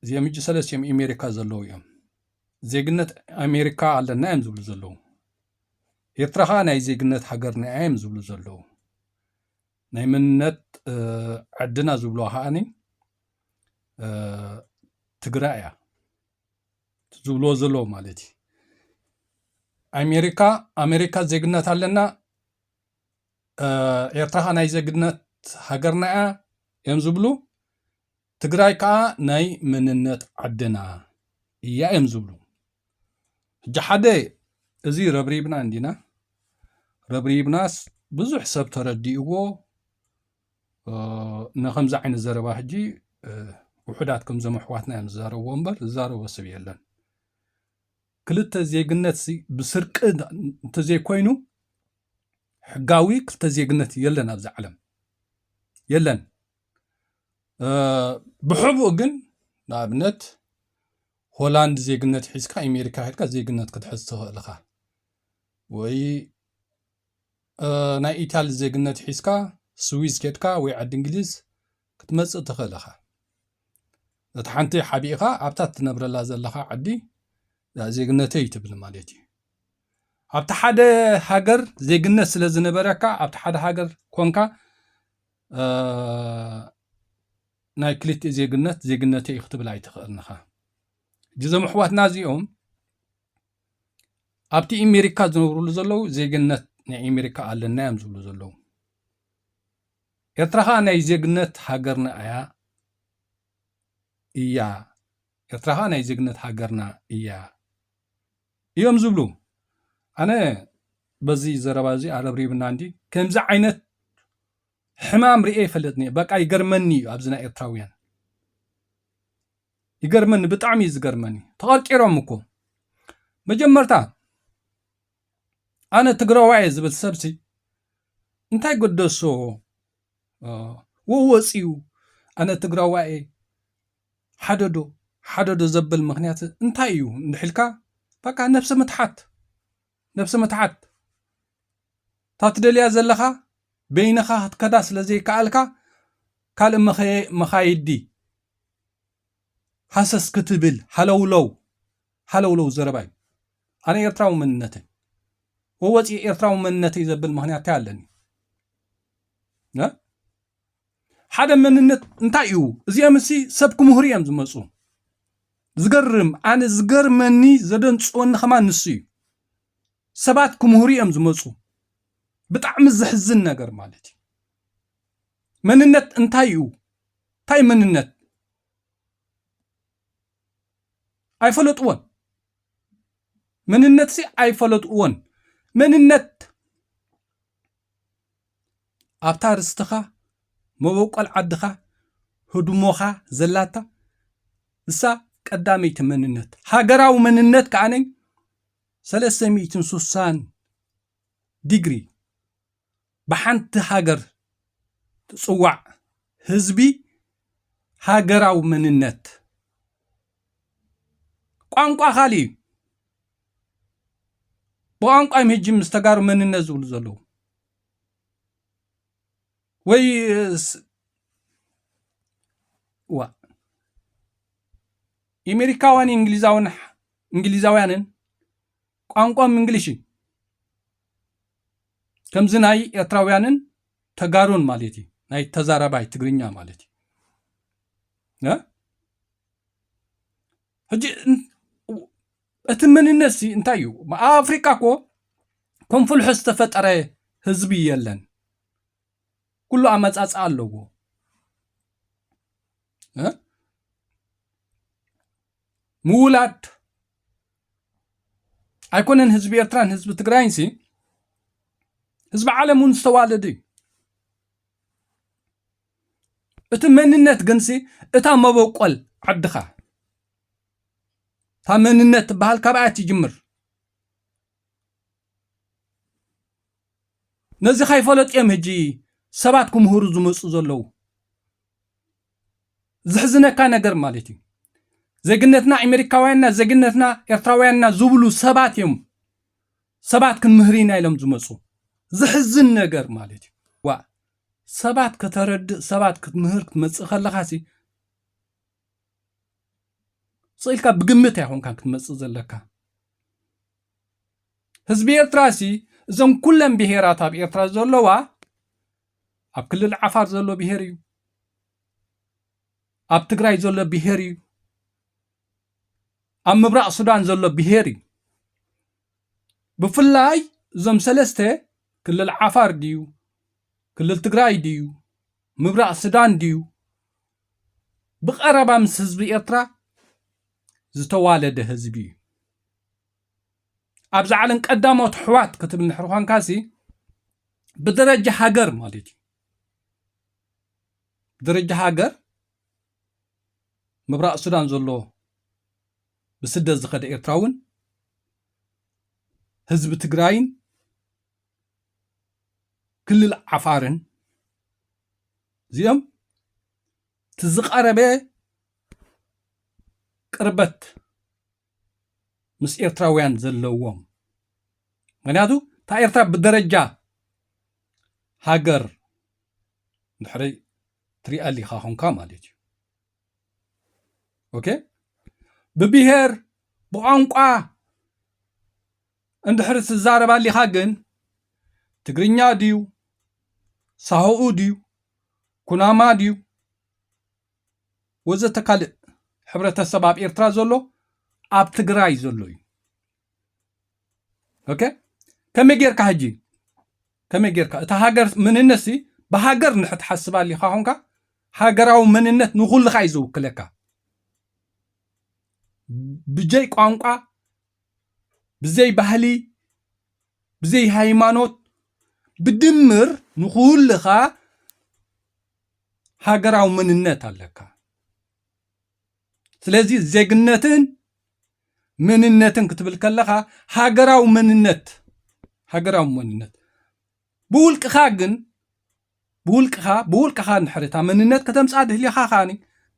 እዚኦም ሕጂ ሰለስቲኦም ኤሜሪካ ዘለዉ እዮም ዜግነት ኣሜሪካ ኣለና እዮም ዝብሉ ዘለዉ ኤርትራ ከዓ ናይ ዜግነት ሃገርና እያ እዮም ዝብሉ ዘለዉ ናይ መንነት ዕድና ዝብልዋ ከዓኒ ትግራይ እያ ዝብልዎ ዘለዉ ማለት እዩ ኣሜሪካ ኣሜሪካ ዜግነት ኣለና ኤርትራ ከዓ ናይ ዜግነት ሃገርና እያ እዮም ዝብሉ ትግራይ ከኣ ናይ መንነት ዓድና እያ እዮም ዝብሉ። ሕጂ ሓደ እዚ ረብሪብና እንዲና ረብሪብናስ ብዙሕ ሰብ ተረዲእዎ ንከምዚ ዓይነት ዘረባ ሕጂ ውሑዳት ከምዞም ኣሕዋትና እዮም ዝዛረብዎ እምበር ዝዛረቦ ሰብ የለን ክልተ ዜግነት ብስርቂ እንተዘይኮይኑ ሕጋዊ ክልተ ዜግነት የለን ኣብዚ ዓለም የለን ብሕቡእ ግን ንኣብነት ሆላንድ ዜግነት ሒዝካ ኣሜሪካ ሄድካ ዜግነት ክትሕዝ ትኽእል ኢኻ ወይ ናይ ኢታሊ ዜግነት ሒዝካ ስዊዝ ኬድካ ወይ ዓዲ እንግሊዝ ክትመፅእ ትኽእል ኢኻ እቲ ሓንቲ ሓቢእኻ ኣብታ ትነብረላ ዘለኻ ዓዲ ዜግነተይ ትብል ማለት እዩ ኣብቲ ሓደ ሃገር ዜግነት ስለ ዝነበረካ ኣብቲ ሓደ ሃገር ኮንካ ናይ ክልቲኡ ዜግነት ዜግነተ እዩ ክትብል ኣይትኽእልንኻ ጅዞም ኣሕዋትና እዚኦም ኣብቲ ኤሜሪካ ዝነብርሉ ዘለዉ ዜግነት ናይ ኤሜሪካ ኣለና እዮም ዝብሉ ዘለዉ ኤርትራ ከዓ ናይ ዜግነት ሃገርና እያ እያ ኤርትራ ከዓ ናይ ዜግነት ሃገርና እያ እዮም ዝብሉ ኣነ በዚ ዘረባ እዚ ኣረብሪብና እንዲ ከምዚ ዓይነት ሕማም ርኤ ይፈልጥን እየ በቃ ይገርመኒ እዩ ኣብዚ ናይ ኤርትራውያን ይገርመኒ ብጣዕሚ እዩ ዝገርመኒ ተቐርቂሮም እኮ መጀመርታ ኣነ ትግራዋየ ዝብል ሰብሲ እንታይ ገደሶ ወወፂኡ ኣነ ትግራዋየ ሓደዶ ሓደዶ ዘብል ምክንያት እንታይ እዩ እንድሕ ኢልካ በቃ ነብሰ ምትሓት ነብሰ ምትሓት እታ ትደልያ ዘለካ በይንካ ክትከዳ ስለ ዘይከኣልካ ካልእ መኻይዲ ሃሰስ ክትብል ሃለውለው ሃለውለው ዘረባ እዩ ኣነ ኤርትራዊ መንነተይ ወወፂ ኤርትራዊ መንነተይ ዘብል ምክንያት እንታይ ኣለኒ ሓደ መንነት እንታይ እዩ? እዚኦም እሲ ሰብ ክምህሩ እዮም ዝመፁ። ዝገርም ኣነ ዝገርመኒ ዘደንፅወኒ ከማን ንሱ እዩ። ሰባት ክምህሩ እዮም ዝመፁ። ብጣዕሚ ዘሕዝን ነገር ማለት እዩ። መንነት እንታይ እዩ? እንታይ መንነት ኣይፈለጥዎን። መንነት ሲ ኣይፈለጥዎን። መንነት ኣብታ ርስትኻ፣ መበቆል ዓድኻ፣ ህድሞኻ ዘላታ እሳ ቀዳመይቲ መንነት፣ ሃገራዊ መንነት ከኣነ ሰለስተ ሚእትን ሱሳን ዲግሪ ብሓንቲ ሃገር ትጽዋዕ ህዝቢ ሃገራዊ መንነት ቋንቋ ካልእ እዩ። ብቋንቋ እዮም ህጂ ምስ ተጋሩ መንነት ዝብሉ ዘለዉ ወይ ዋ ኢሜሪካውያን እንግሊዛውን እንግሊዛውያንን ቋንቋም እንግሊሽ እዩ ከምዚ ናይ ኤርትራውያንን ተጋሩን ማለት እዩ ናይ ተዛራባይ ትግርኛ ማለት እዩ ሕጂ እቲ መንነት ሲ እንታይ እዩ? ኣብ ኣፍሪቃ እኮ ከም ፍልሖ ዝተፈጠረ ህዝቢ የለን። ኩሉ ኣመጻጽኣ ኣለዎ። ምውላድ ኣይኮነን ህዝቢ ኤርትራን ህዝቢ ትግራይን ሲ ህዝቢ ዓለም እውን ዝተዋለደ እዩ እቲ መንነት ግንሲ እታ መበቆል ዓድኻ እታ መንነት ትበሃል ካብኣ ትጅምር ነዚ ካይፈለጡ እዮም ሕጂ ሰባት ክምህሩ ዝመፁ ዘለዉ ዝሕዝነካ ነገር ማለት እዩ ዜግነትና ኣሜሪካውያንና ዜግነትና ኤርትራውያንና ዝብሉ ሰባት እዮም ሰባት ክንምህር ኢና ኢሎም ዝመፁ ዝሕዝን ነገር ማለት እዩ ዋ ሰባት ከተረድእ ሰባት ክትምህር ክትመፅእ ከለኻሲ ፅኢልካ ብግምት ኣይኮንካን ክትመፅእ ዘለካ ህዝቢ ኤርትራ ሲ እዞም ኩለን ብሄራት ኣብ ኤርትራ ዘለዋ ኣብ ክልል ዓፋር ዘሎ ብሄር እዩ ኣብ ትግራይ ዘሎ ብሄር እዩ ኣብ ምብራቕ ሱዳን ዘሎ ብሄር እዩ ብፍላይ እዞም ሰለስተ ክልል ዓፋር ድዩ ክልል ትግራይ ድዩ ምብራቕ ሱዳን ድዩ ብቐረባ ምስ ህዝቢ ኤርትራ ዝተዋለደ ህዝቢ እዩ። ኣብዚ ዓለም ቀዳሞት ኣሕዋት ክትብል እንድሕር ኳንካሲ ብደረጃ ሃገር ማለት እዩ። ብደረጃ ሃገር ምብራቕ ሱዳን ዘሎ ብስደት ዝኸደ ኤርትራውን ህዝቢ ትግራይን ክልል ዓፋርን እዚኦም እቲ ዝቐረበ ቅርበት ምስ ኤርትራውያን ዘለዎም ምክንያቱ እታ ኤርትራ ብደረጃ ሃገር ድሕሪ ትሪኣ ሊኻ ኮንካ ማለት እዩ ኦኬ ብብሄር ብቋንቋ እንድሕሪ ትዛረብ ኣሊኻ ግን ትግርኛ ድዩ ሳሆኡ ድዩ ኩናማ ድዩ ወዘተ ካልእ ሕብረተሰብ ኣብ ኤርትራ ዘሎ ኣብ ትግራይ ዘሎ እዩ ኦኬ ከመይ ጌርካ ሕጂ ከመይ ጌርካ እታ ሃገር መንነት ሲ ብሃገር ንድሕር ትሓስብ ኣሊኻ ኮንካ ሃገራዊ መንነት ንኹልኻ እዩ ዝውክለካ ብጀይ ቋንቋ ብዘይ ባህሊ ብዘይ ሃይማኖት ብድምር ንኹልኻ ሃገራዊ መንነት ኣለካ። ስለዚ ዜግነትን መንነትን ክትብል ከለኻ ሃገራዊ መንነት ሃገራዊ መንነት ብውልቅኻ ግን ብውልቅኻ ብውልቅኻ እንድሕሪ እታ መንነት ከተምጽኣ ድልኻ ከኣኒ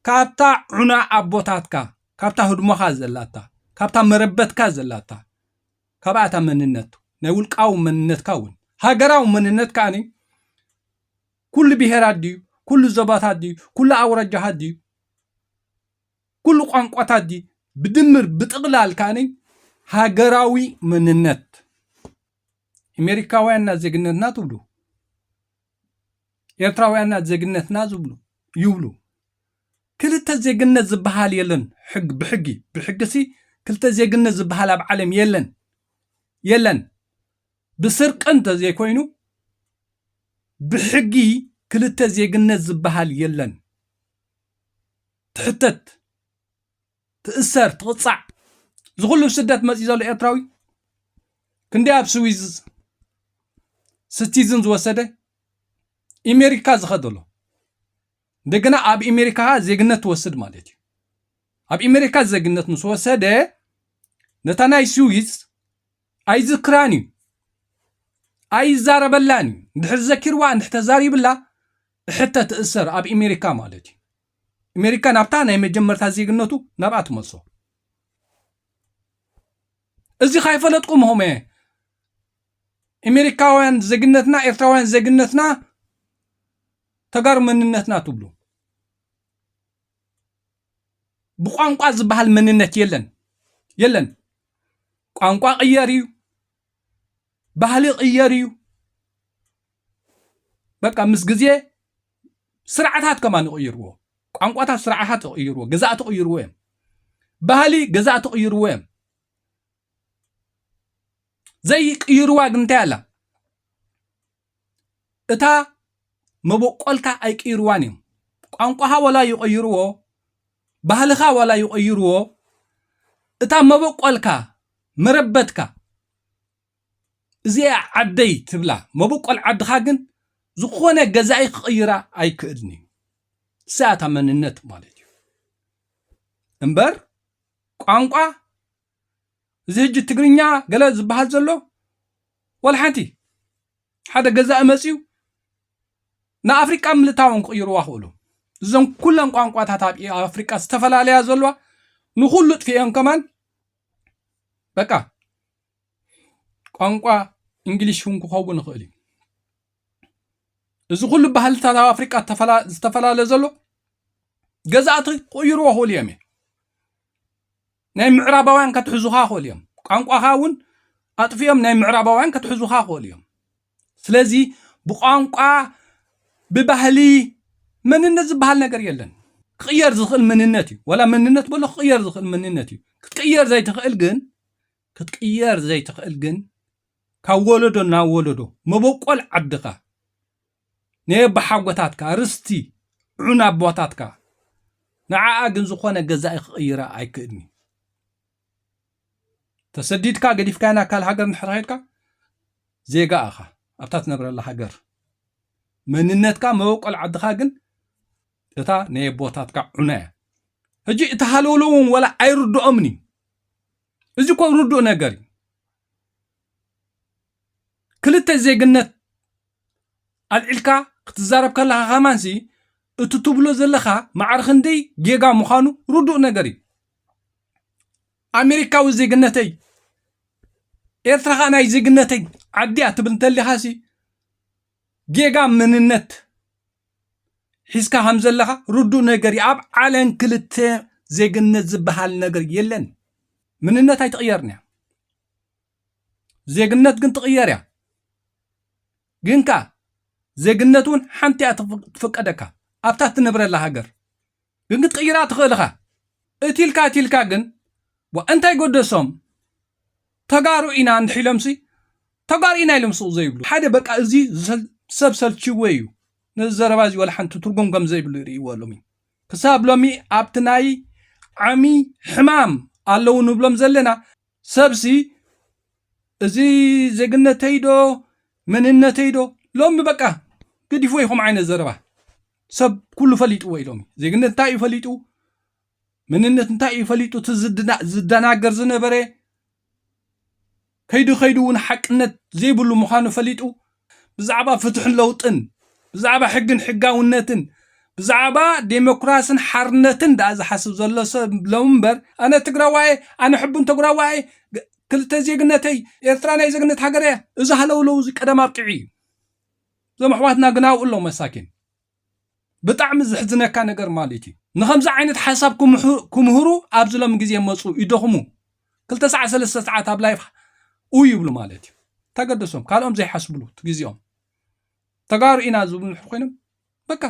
ካብታ ዑና ኣቦታትካ ካብታ ህድሞኻ ዘላታ ካብታ መረበትካ ዘላታ ካብኣ እታ መንነት ናይ ውልቃዊ መንነትካ እውን ሃገራዊ መንነት ከኣኒ ኩሉ ብሄራት ድዩ ኩሉ ዞባታት ድዩ ኩሉ ኣውራጃታት ድዩ ኩሉ ቋንቋታት ድዩ ብድምር ብጥቕላል ከኣኒ ሃገራዊ መንነት ኤሜሪካውያንና ዜግነትና ትብሉ ኤርትራውያንና ዜግነትና ዝብሉ ይብሉ ክልተ ዜግነት ዝበሃል የለን ሕግ ብሕጊ ብሕግሲ ክልተ ዜግነት ዝበሃል ኣብ ዓለም የለን የለን ብስርቂ እንተዘይኮይኑ ብሕጊ ክልተ ዜግነት ዝበሃል የለን ትሕተት ትእሰር ትቕጻዕ እዚ ኩሉ ብ ስደት መጺኡ ዘሎ ኤርትራዊ ክንደይ ኣብ ስዊዝ ስቲዝን ዝወሰደ ኢሜሪካ ዝኸደሎ እንደገና ኣብ ኢሜሪካ ከኣ ዜግነት ትወስድ ማለት እዩ ኣብ ኢሜሪካ ዜግነት ምስ ወሰደ ነታ ናይ ስዊዝ ኣይዝክራን እዩ ኣይዛረበላን እዩ እንድሕር ዘኪርዋ እንድሕር ተዛሪብላ እሕተ ትእሰር ኣብ ኢሜሪካ ማለት እዩ ኣሜሪካ ናብታ ናይ መጀመርታ ዜግነቱ ናብኣ ትመልሶ እዚ ካይፈለጥኩም ሆመ ኣሜሪካውያን ዜግነትና ኤርትራውያን ዜግነትና ተጋሩ መንነትና ትብሉ ብቋንቋ ዝበሃል መንነት የለን የለን ቋንቋ ቅየር እዩ ባህሊ ይቕየር እዩ በቃ ምስ ግዜ ስርዓታት ከማን ይቕይርዎ ቋንቋታት ስርዓታት ይቕይርዎ ግዛእቲ ይቕይርዎ እዮም ባህሊ ግዛእቲ ይቕይርዎ እዮም ዘይቅይርዋ ግን እንታይ ኣላ እታ መበቆልካ ኣይቅይርዋን እዮም ቋንቋኻ ዋላ ይቐይርዎ ባህልኻ ዋላ ይቐይርዎ እታ መበቆልካ መረበትካ እዚኣ ዓደይ ትብላ መበቆል ዓድኻ ግን ዝኾነ ገዛኢ ክቕይራ ኣይክእልን እዩ እዚኣ እታ መንነት ማለት እዩ እምበር ቋንቋ እዚ ሕጂ ትግርኛ ገለ ዝበሃል ዘሎ ወላ ሓንቲ ሓደ ገዛኢ መፅዩ ንኣፍሪቃ ምልታውን ክቕይርዋ ክእሉ እዘን ኩለን ቋንቋታት ኣብ ኣፍሪቃ ዝተፈላለያ ዘለዋ ንኩሉ ጥፍኤን ከማን በቃ ቋንቋ እንግሊሽ እውን ክኸውን ይኽእል እዩ እዚ ኩሉ ባህልታት ኣብ ኣፍሪቃ ዝተፈላለ ዘሎ ገዛእቲ ክቕይርዎ ክእሉ እዮም ናይ ምዕራባውያን ከትሕዙኻ ይኽእሉ እዮም ቋንቋኻ እውን ኣጥፊኦም ናይ ምዕራባውያን ከትሕዙኻ ይኽእሉ እዮም ስለዚ ብቋንቋ ብባህሊ መንነት ዝበሃል ነገር የለን ክቕየር ዝኽእል መንነት እዩ ወላ መንነት በሎ ክቕየር ዝኽእል መንነት እዩ ክትቅየር ዘይትኽእል ግን ክትቅየር ዘይትኽእል ግን ካብ ወለዶ ናብ ወለዶ መበቆል ዓድኻ ናይ ኣቦሓጎታትካ ርስቲ ዑና ኣቦታትካ ንዓኣ ግን ዝኾነ ገዛኢ ክቕይራ ኣይክእልን እዩ። ተሰዲድካ ገዲፍካያ ናብ ካልእ ሃገር እንድሕር ኼድካ ዜጋ ኣኻ ኣብታ ትነብረላ ሃገር መንነትካ መበቆል ዓድኻ ግን እታ ናይ ኣቦታትካ ዑና እያ ሕጂ እቲ ሃለውሎ እውን ወላ ኣይርድኦምን እዩ እዚ ኮ ርዱእ ነገር እዩ ክልተ ዜግነት ኣልዒልካ ክትዛረብ ከለኻ ከማንሲ እቲ ትብሎ ዘለኻ ማዕረ ክንደይ ጌጋ ምዃኑ ርዱእ ነገር እዩ ኣሜሪካዊ ዜግነተይ ኤርትራ ኸኣ ናይ ዜግነተይ ዓዲያ ትብል እንተሊኻሲ ጌጋ መንነት ሒዝካ ከም ዘለኻ ርዱእ ነገር እዩ ኣብ ዓለም ክልተ ዜግነት ዝበሃል ነገር የለን ምንነት ኣይትቕየርን እያ ዜግነት ግን ትቕየር እያ ግን ከ ዜግነት እውን ሓንቲ እያ ትፍቀደካ ኣብታ ትነብረላ ሃገር ግን ክትቕይራ ትኽእል ኢኻ እቲ ኢልካ እቲ ኢልካ ግን ዋ እንታይ ጎደሶም ተጋሩ ኢና እንድሒሎምሲ ተጋሩ ኢና ኢሎም ስቕ ዘይብሉ ሓደ በቃ እዚ ሰብ ሰልችዎ እዩ ነዚ ዘረባ እዚ ወላ ሓንቲ ትርጉም ከም ዘይብሉ ይርእይዎ ሎሚ ክሳብ ሎሚ ኣብቲ ናይ ዓሚ ሕማም ኣለዉ ንብሎም ዘለና ሰብሲ እዚ ዜግነተይ ዶ መንነተይ ዶ ሎሚ በቃ ገዲፍዎ ይኹም ዓይነት ዘረባ ሰብ ኩሉ ፈሊጥዎ እዩ ሎሚ ዜግነት እንታይ እዩ ፈሊጡ መንነት እንታይ እዩ ፈሊጡ እቲ ዝደናገር ዝነበረ ከይዱ ከይዱ እውን ሓቅነት ዘይብሉ ምዃኑ ፈሊጡ ብዛዕባ ፍትሕን ለውጥን፣ ብዛዕባ ሕግን ሕጋውነትን፣ ብዛዕባ ዴሞክራስን ሓርነትን ድኣ ዝሓስብ ዘሎ ሰብ ሎሚ እምበር ኣነ ትግራዋይ'የ፣ ኣነ ሕቡን ተግራዋይ'የ፣ ክልተ ዜግነተይ፣ ኤርትራ ናይ ዜግነት ሃገር'ያ፣ እዚ ሃለውለው እዚ ቀደም ኣብቂዑ'ዩ። እዞም ኣሕዋትና ግን ኣብኡ ኣለዉ መሳኪን። ብጣዕሚ ዝሕዝነካ ነገር ማለት እዩ ንከምዚ ዓይነት ሓሳብ ክምህሩ ኣብዚ ሎም ግዜ መፁ ይደኽሙ ክልተ ሰዓት ሰለስተ ሰዓት ኣብ ላይፍ ኡ ይብሉ ማለት እዩ ተገደሶም ካልኦም ዘይሓስብሉ ግዜኦም ተጋሩ ኢና ዝብሉ ንሕር ኮይኖም በቃ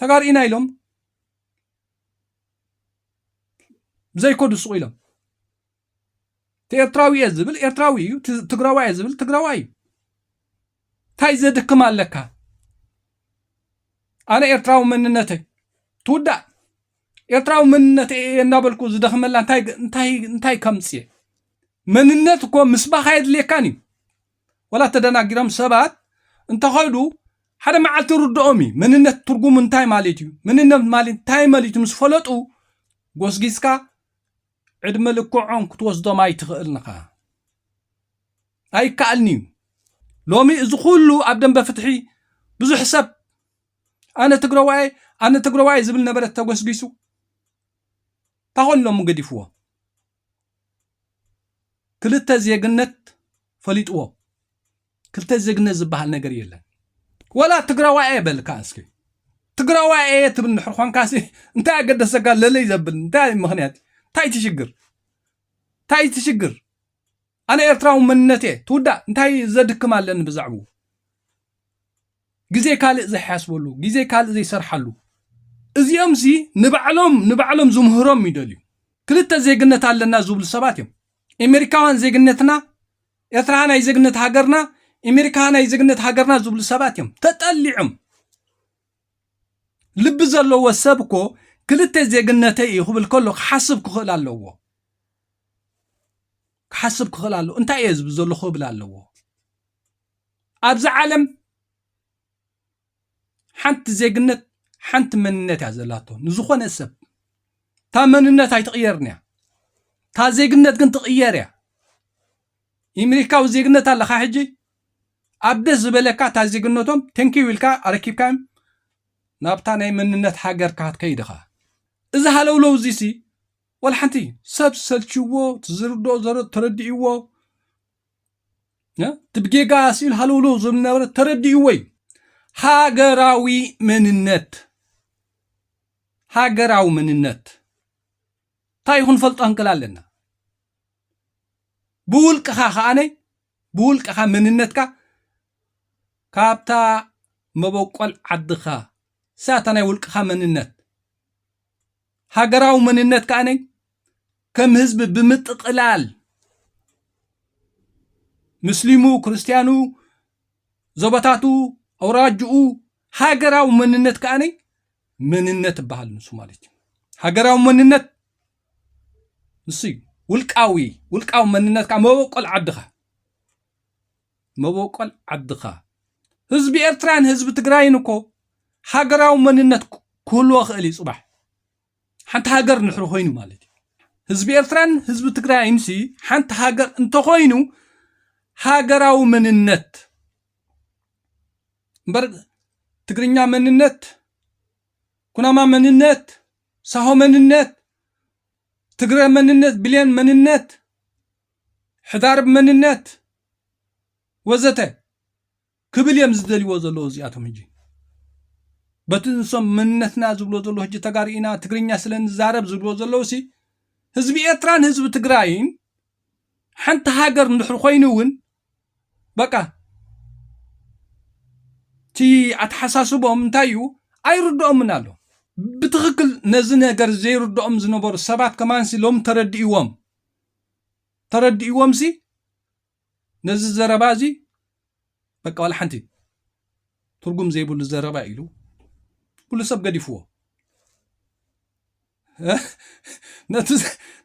ተጋሩ ኢና ኢሎም ዘይኮዱ ስቑ ኢሎም ኤርትራዊ እየ ዝብል ኤርትራዊ እዩ ትግራዋይ እየ ዝብል ትግራዋይ እዩ እንታይ ዘድክም ኣለካ ኣነ ኤርትራዊ መንነተይ ትውዳእ ኤርትራዊ መንነት እየ እናበልኩ ዝደኽመላ እንታይ ከምፅየ መንነት እኮ ምስባኽ ኣየድልየካን እዩ ወላ ተደናጊሮም ሰባት እንተኸዱ ሓደ መዓልቲ ርድኦም እዩ መንነት ትርጉሙ እንታይ ማለት እዩ መንነት ማለት እንታይ ማለት እዩ ምስ ፈለጡ ጎስጊስካ ዕድመ ልክዖም ክትወስዶም ኣይትኽእልን ኢኻ። ኣይከኣልን እዩ። ሎሚ እዚ ኩሉ ኣብ ደንበ ፍትሒ ብዙሕ ሰብ ኣነ ትግረዋይ ኣነ ትግረዋይ ዝብል ነበረ ተጎስጊሱ ታኾን ሎሚ ገዲፍዎ ክልተ ዜግነት ፈሊጥዎ ክልተ ዜግነት ዝበሃል ነገር የለን ወላ ትግራዋይ እየ በል ከዓ እስኪ ትግራዋይ እየ ትብል ንድሕር ኳንካሲ እንታይ ኣገደሰካ ለለይ ዘብል እንታይ ምክንያት እንታይ ትሽግር እንታይ ትሽግር ኣነ ኤርትራዊ መንነት እየ ትውዳእ እንታይ ዘድክም ኣለኒ ብዛዕባኡ ግዜ ካልእ ዘይሓስበሉ ግዜ ካልእ ዘይሰርሓሉ እዚኦም ሲ ንባዕሎም ንባዕሎም ዝምህሮም ይደልዩ ክልተ ዜግነት ኣለና ዝብሉ ሰባት እዮም ኤሜሪካውያን ዜግነትና ኤርትራ ናይ ዜግነት ሃገርና ኤሜሪካ ናይ ዜግነት ሃገርና ዝብሉ ሰባት እዮም ተጠሊዑም ልቢ ዘለዎ ሰብ እኮ ክልተ ዜግነተይ እዩ ክብል ከሎ ክሓስብ ክኽእል ኣለዎ ክሓስብ ክኽእል ኣለዎ እንታይ እየ ዝብል ዘለኹ ክብል ኣለዎ ኣብዚ ዓለም ሓንቲ ዜግነት ሓንቲ መንነት እያ ዘላቶ ንዝኾነ ሰብ እታ መንነት ኣይትቕየርን እያ እታ ዜግነት ግን ትቕየር እያ ኢምሪካዊ ዜግነት ኣለካ ሕጂ ኣብ ደስ ዝበለካ እታ ዜግነቶም ተንኪው ኢልካ ኣረኪብካዮም ናብታ ናይ መንነት ሃገርካ ክትከይድ ኢኻ እዚ ሃለውለው እዚሲ ወላ ሓንቲ ሰብ ሰልችዎ ዝርድኦ ተረዲእዎ እቲ ብጌጋ ስኢሉ ሃልውልው ዝብል ዝነበረ ተረዲእዎ እዩ ሃገራዊ መንነት ሃገራዊ መንነት እንታይ ይኹን ፈልጦ ክንክል ኣለና ብውልቅኻ ከዓነ ብውልቅኻ መንነትካ ካብታ መበቆል ዓድኻ ሳታ ናይ ውልቅኻ መንነት ሃገራዊ መንነት ከኣ ከም ህዝቢ ብምጥቕላል ምስሊሙ፣ ክርስትያኑ፣ ዞባታቱ፣ ኣውራጅኡ ሃገራዊ መንነት ከኣ መንነት ይበሃል ንሱ ማለት እዩ። ሃገራዊ መንነት ንሱ እዩ። ውልቃዊ ውልቃዊ መንነትካ መበቆል ዓድኻ መቦቆል ዓድኻ። ህዝቢ ኤርትራን ህዝቢ ትግራይን እኮ ሃገራዊ መንነት ክህልዎ ክእል እዩ ጽባሕ ሓንቲ ሃገር ንሕሪ ኮይኑ ማለት እዩ ህዝቢ ኤርትራን ህዝቢ ትግራይን ሲ ሓንቲ ሃገር እንተኾይኑ ሃገራዊ መንነት እምበር ትግርኛ መንነት ኩናማ መንነት ሳሆ መንነት ትግረ መንነት ብሌን መንነት ሕዳር ብ መንነት ወዘተ ክብል እዮም ዝደልዎ ዘለዎ እዚኣቶም ሕጂ በቲ ንሶም መንነትና ዝብሎ ዘሎ ሕጂ ተጋሩ ኢና ትግርኛ ስለ ንዛረብ ዝብሎ ዘለዉ ሲ ህዝቢ ኤርትራን ህዝቢ ትግራይን ሓንቲ ሃገር እንድሕር ኮይኑ እውን በቃ እቲ ኣተሓሳስቦም እንታይ እዩ ኣይርድኦምን ኣሎ ብትኽክል ነዚ ነገር ዘይርድኦም ዝነበሩ ሰባት ከማንሲ ሎም ተረድእዎም ተረዲእዎምሲ ነዚ ዘረባ እዚ በቃ ዋላ ሓንቲ ትርጉም ዘይብሉ ዘረባ ኢሉ ኩሉ ሰብ ገዲፍዎ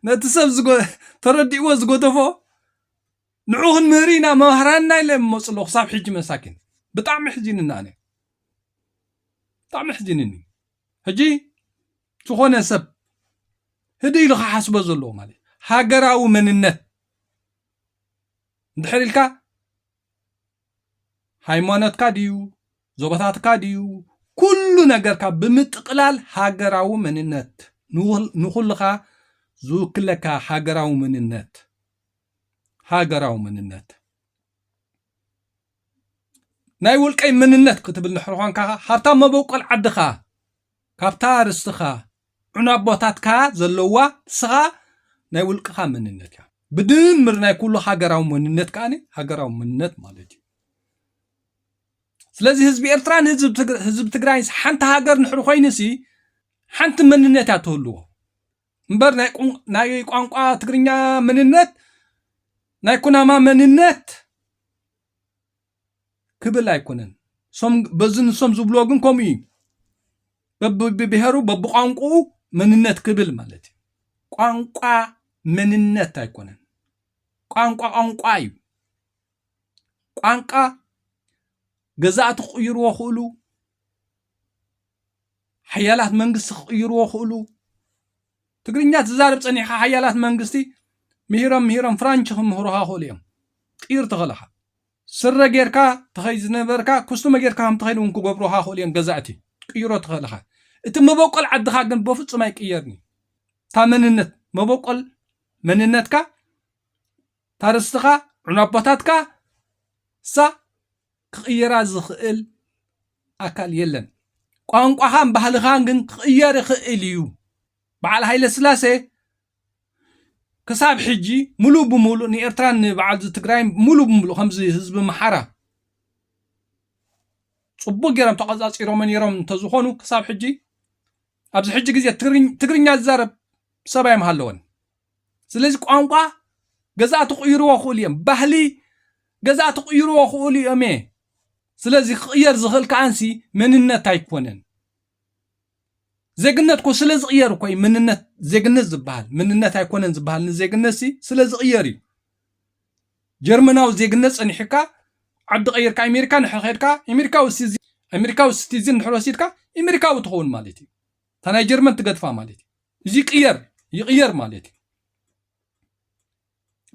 ነቲ ሰብ ተረዲእዎ ዝጎደፎ ንዑ ክንምህር ኢና መምህራንና ኢለ መፁ ኣለኹ ክሳብ ሕጂ መሳኪን ብጣዕሚ ሕዚንና ኣነ ብጣዕሚ ሕዚንኒ ሕጂ ዝኾነ ሰብ ህድእ ኢሉ ክሓስቦ ዘለዎ ማለት እዩ። ሃገራዊ መንነት እንድሕር ኢልካ ሃይማኖትካ ድዩ ዞባታትካ ድዩ ኩሉ ነገርካ ብምጥቕላል ሃገራዊ መንነት ንኹልኻ ዝውክለካ ሃገራዊ መንነት ሃገራዊ መንነት ናይ ውልቀይ መንነት ክትብል ንሕርኾንካ ሃብታም መበቆል ዓድኻ ካብታ ርስትኻ ዑና ኣቦታትካ ዘለዉዋ ንስኻ ናይ ውልቅኻ መንነት እያ። ብድምር ናይ ኩሉ ሃገራዊ መንነት ከኣ ሃገራዊ መንነት ማለት እዩ። ስለዚ ህዝቢ ኤርትራን ህዝቢ ትግራይንስ ሓንቲ ሃገር ንሕሪ ኮይኑሲ ሓንቲ መንነት እያ ትህልዎ እምበር ናይ ቋንቋ ትግርኛ መንነት ናይ ኩናማ መንነት ክብል ኣይኮነን በዚ ንሶም ዝብልዎ ግን ከምኡ እዩ በብብሄሩ በብቋንቁኡ መንነት ክብል ማለት እዩ ቋንቋ መንነት ኣይኮነን ቋንቋ ቋንቋ እዩ ቋንቋ ገዛእቲ ክቕይርዎ ክእሉ ሓያላት መንግስቲ ክቕይርዎ ክእሉ ትግርኛ ትዛረብ ጸኒሕካ ሓያላት መንግስቲ ምሂሮም ምሂሮም ፍራንች ክምህሩኻ ይኽእሉ እዮም ጢር ተኸለኻ ስረ ጌርካ ተኸይድ ዝነበርካ ኩስቱመ ጌርካ ከም ትኸይድ እውን ክገብሩኻ ይኽእሉ እዮም ገዛእቲ ቅይሮ ተኸለኻ እቲ መበቆል ዓድኻ ግን በፍጹም ኣይቅየርን እዩ እታ መንነት መበቆል መንነትካ ታርስትኻ ዑናቦታትካ እሳ ክቕይራ ዝኽእል ኣካል የለን። ቋንቋኻን ባህልኻን ግን ክቕየር ይኽእል እዩ። በዓል ሃይለስላሴ ክሳብ ሕጂ ሙሉእ ብሙሉእ ንኤርትራን ንበዓልዚ ትግራይን ሙሉእ ብሙሉእ ከምዚ ህዝቢ ኣምሓራ ጽቡቅ ገይሮም ተቐጻጺሮሞ ነይሮም እንተዝኾኑ ክሳብ ሕጂ ኣብዚ ሕጂ ግዜ ትግርኛ ዝዛረብ ሰብ ኣይምሃለወን ስለዚ ቋንቋ ገዛእቲ ክቕይርዎ ክእሉ እዮም ባህሊ ገዛእቲ ክቕይርዎ ክእሉ እዮም እየ ስለዚ ክቕየር ዝኽእል ከዓንሲ መንነት ኣይኮነን ዜግነት ኮ ስለ ዝቕየር እኮ እዩ መንነት ዜግነት ዝበሃል መንነት ኣይኮነን ዝበሃል ንዜግነት ሲ ስለ ዝቕየር እዩ ጀርመናዊ ዜግነት ፀኒሑካ ዓዲ ቀይርካ ኣሜሪካ ንድሕር ኸድካ ኣሜሪካዊ ሲቲዝን ኣሜሪካዊ ሲቲዝን ድሕር ወሲድካ ኣሜሪካዊ ትኸውን ማለት እዩ እታ ናይ ጀርመን ትገድፋ ማለት እዩ እዚ ይቅየር ይቅየር ማለት እዩ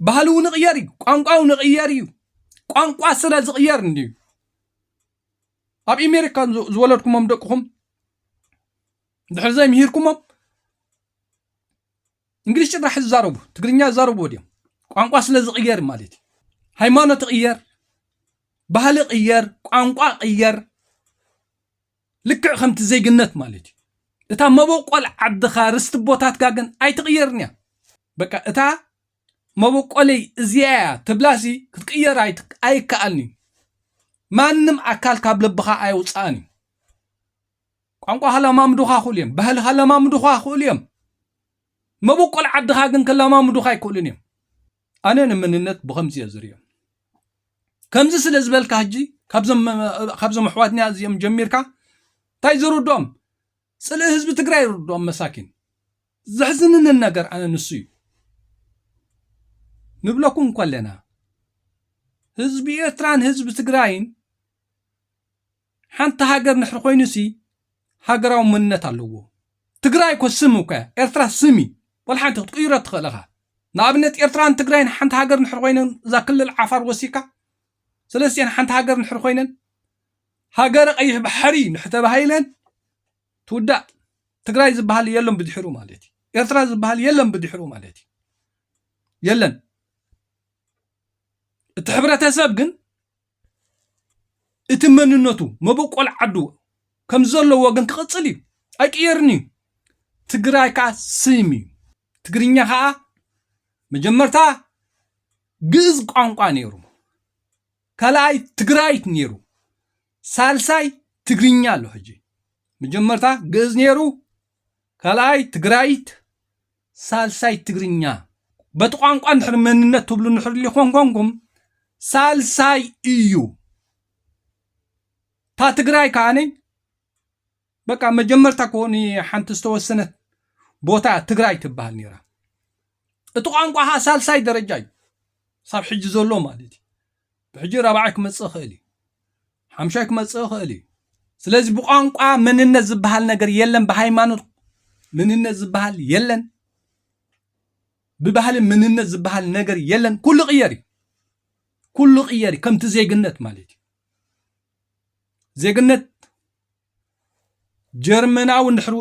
ባህሊ እውን ይቅየር እዩ ቋንቋ እውን ይቅየር እዩ ቋንቋ ስለ ዝቅየር እንድዩ ኣብ ኣሜሪካ ዝ- ዝወለድኩሞም ደቅኹም ድሕሪ ዘይምሂርኩሞም እንግሊሽ ጭራሕ ዝዛረቡ ትግርኛ ዝዛረቡ ድዮም ቋንቋ ስለ ዝቅየር ማለት እዩ ሃይማኖት ይቅየር ባህሊ ቅየር ቋንቋ ቅየር ልክዕ ከምቲ ዜግነት ማለት እዩ እታ መበቆል ዓድኻ ርስቲ ቦታትካ ግን ኣይትቕየርንያ በቃ እታ መበቆለይ እዚያያ ትብላሲ ክትቅየር ኣይከኣልን እዩ ማንም ኣካል ካብ ልብኻ ኣየውፅኣን እዩ ቋንቋ ከለማምዱኻ ክእሉ እዮም ባህሊ ከለማምዱኻ ክእሉ እዮም መበቆል ዓድኻ ግን ከለማምዱኻ ኣይክእሉን እዮም ኣነ ንመንነት ብኸምዚ እየ ዝሪኦ። ከምዚ ስለ ዝበልካ ሕጂ ካብዞም ኣሕዋትና እዚኦም ጀሚርካ እንታይ ዝርድኦም ጽልኢ ህዝቢ ትግራይ ይርድኦም መሳኪን። ዘሕዝንንን ነገር ኣነ ንሱ እዩ ንብለኩም እኮ ኣለና ህዝቢ ኤርትራን ህዝቢ ትግራይን ሓንቲ ሃገር ንድሕሪ ኮይኑሲ ሃገራዊ መንነት ኣለዎ። ትግራይ እኮ ስም እኮ እያ፣ ኤርትራ ስም እዩ፣ ዋላ ሓንቲ ክትቅይሮ እትኽእል እኻ። ንኣብነት ኤርትራን ትግራይን ሓንቲ ሃገር ንድሕሪ ኮይነን እዛ ክልል ዓፋር ወሲካ ሰለስቲኤን ሓንቲ ሃገር ንድሕሪ ኮይነን ሃገረ ቀይሕ ባሕሪ እንድሕሪ ተባሂለን ትውዳእ ትግራይ ዝበሃል የለን ብድሕሩ ማለት እዩ። ኤርትራ ዝበሃል የለን ብድሕሩ ማለት እዩ። የለን እቲ ሕብረተሰብ ግን እቲ መንነቱ መበቆል ዓዱ ከምዘለዎ ግን ክቕፅል እዩ ኣይቅየርን እዩ ትግራይ ከዓ ስም እዩ ትግርኛ ከዓ መጀመርታ ግእዝ ቋንቋ ነይሩ ካልኣይ ትግራይት ነይሩ ሳልሳይ ትግርኛ ኣሎ ሕጂ መጀመርታ ግእዝ ነይሩ ካልኣይ ትግራይት ሳልሳይ ትግርኛ በቲ ቋንቋ እንድሕር መንነት ትብሉ እንድሕር ሊኾን ኮንኩም ሳልሳይ እዩ እታ ትግራይ ከዓኒ በቃ መጀመርታ ኮ ሓንቲ ዝተወሰነት ቦታ እያ ትግራይ ትበሃል ነይራ እቲ ቋንቋ ከዓ ሳልሳይ ደረጃ እዩ ሳብ ሕጂ ዘሎ ማለት እዩ ብሕጂ ራብዓይ ክመጽእ ይኽእል እዩ ሓምሻይ ክመጽእ ይኽእል እዩ ስለዚ ብቋንቋ መንነት ዝበሃል ነገር የለን ብሃይማኖት መንነት ዝበሃል የለን ብባህሊ መንነት ዝበሃል ነገር የለን ኩሉ ቅየር እዩ ኩሉ ቅየር እዩ ከምቲ ዜግነት ማለት እዩ ዜግነት ጀርመናዊ ንድሕሪ